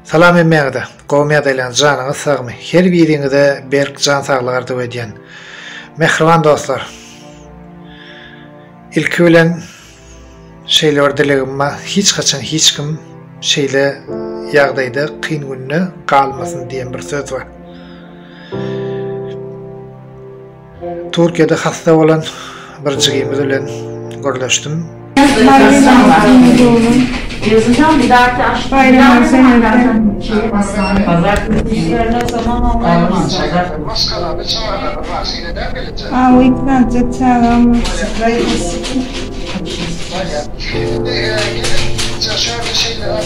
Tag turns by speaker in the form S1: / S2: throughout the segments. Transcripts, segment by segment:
S1: Salam hemmäňize. Gowy ýadaýlaň janyňyz sagmy. Her biriňize berk jan saglygy arzuw edýän. Mähriban dostlar. Ilki bilen şeýle bir dilegim bar. Hiç haçan hiç kim şeýle ýagdaýda kyn günde galmasyn diýen bir söz bar. Türkiýede hassa bolan bir jigimiz bilen gürleşdim.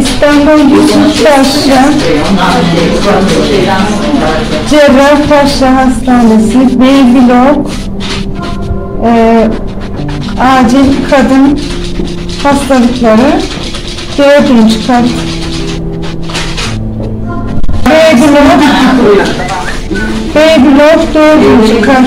S1: Ispandan Ýusuf Paşşa Jerrah Paşşa hassanesi, Beýgi Lok ajil kadyn hassalyklary, dördünji kat, Beýgi Lok, Beýgi Lok dördünji kat.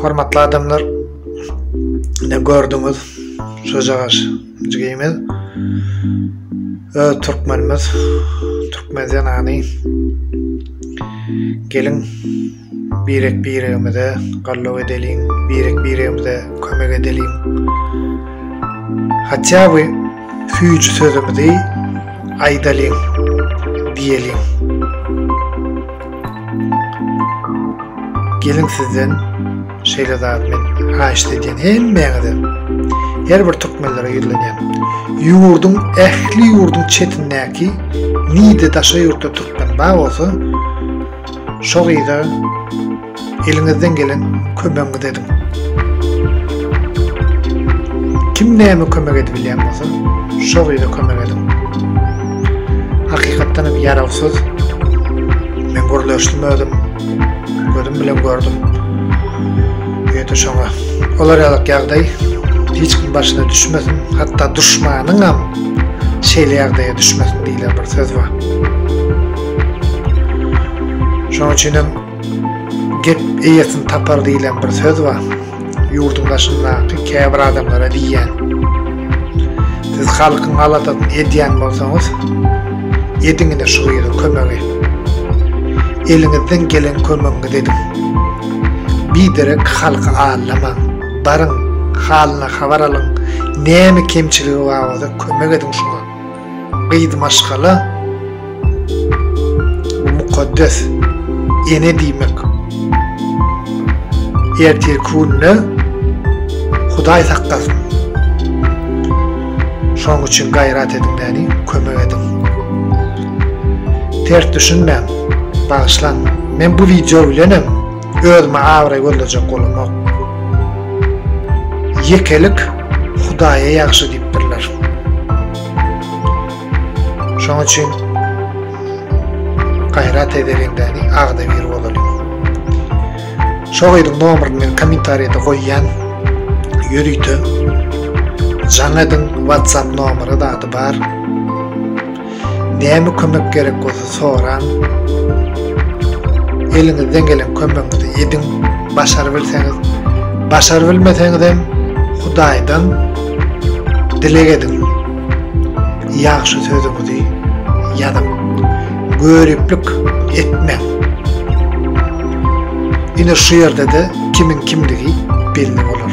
S1: Hormatly adamlar, ne gördüňiz, şojagaş jigimiz, öz türkmenimiz, türkmen zenany, gelin, birek biregimize gallo edeliň, birek biregimize kömek edeliň. Hatya bu füyücü sözümüzi aydaliň, diyeliň. Gelin sizden şeýle zat men haýyşt edýän hemmäňize. Her bir türkmenlere ýüzlenýän. Ýurduň ähli ýurduň çetindäki nide daşa ýurtda türkmen bar bolsa, şo gyza Eliňizden gelen kömegiňizi ediň. Kim näme kömek edip bilýän bolsa, şo gyza kömek ediň. Hakykatdan hem ýarawsyz. Men gürleşdim özüm. Gözüm bilen gördüm. Ýöte şoňa. Olar ýalak ýagdaý hiç kim başyna düşmesin. Hatda duşmanyň hem şeýle ýagdaýa düşmesin diýlen bir söz bar. Şonuň üçin hem Gep eýesini tapar diýlen bir söz bar. Ýurduň daşyndaky käbir adamlara diýýän. Siz halkyň galatasyny edýän bolsaňyz, ediň ine şu gyza kömegi. Eliňizden gelen kömegiňizi ediň. Biderek halky aldamaň. Baryň, halyna habar alyň. Näme kemçiligi bar bolsa kömek ediň şuňa. Gyz maşgala mukaddes ene diýmek. Ertirki gününe Hudaý saklasyn. Şoň üçin gaýrat ediň näni, kömek ediň. Ters düşünmäň, bagyşlaň. Men bu wideo bilenem Özüme abraý gözlejek bolanok. Ýekelik Hudaýa ýagşy diýipdirler. Şoň üçin gaýrat edeliň-däni, agzybir bolalyň. Şo gyzyň nomerini men kommentariýada goýýan. Ýörite jaň ediň, WhatsApp nomeri zady bar. Näme kömek gerek bolsa soraň. Eliňizden gelen kömegiňizi ediň, başarybilseňiz. Başarybilmeseňiz hem Hudaýdan dileg ediň. Ýagşy sözüňizi ýazyň. Göriplik etmäň. Ine şu ýerde-de kimiň kimdigi belli bolar.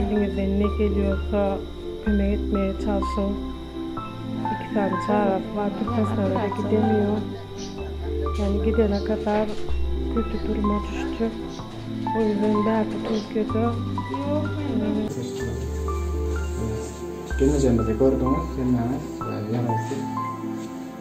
S1: Eliňizden ne gelýorsa kömek etmege çalşyň. Iki sany çagasy bar Türkmenistana-da gidemiyor. Yani gidene kadar kötü duruma düşjek. O yüzden bärde Türkiýede Geňejemizi gördüňiz, hemmäňiz ýarawsyz.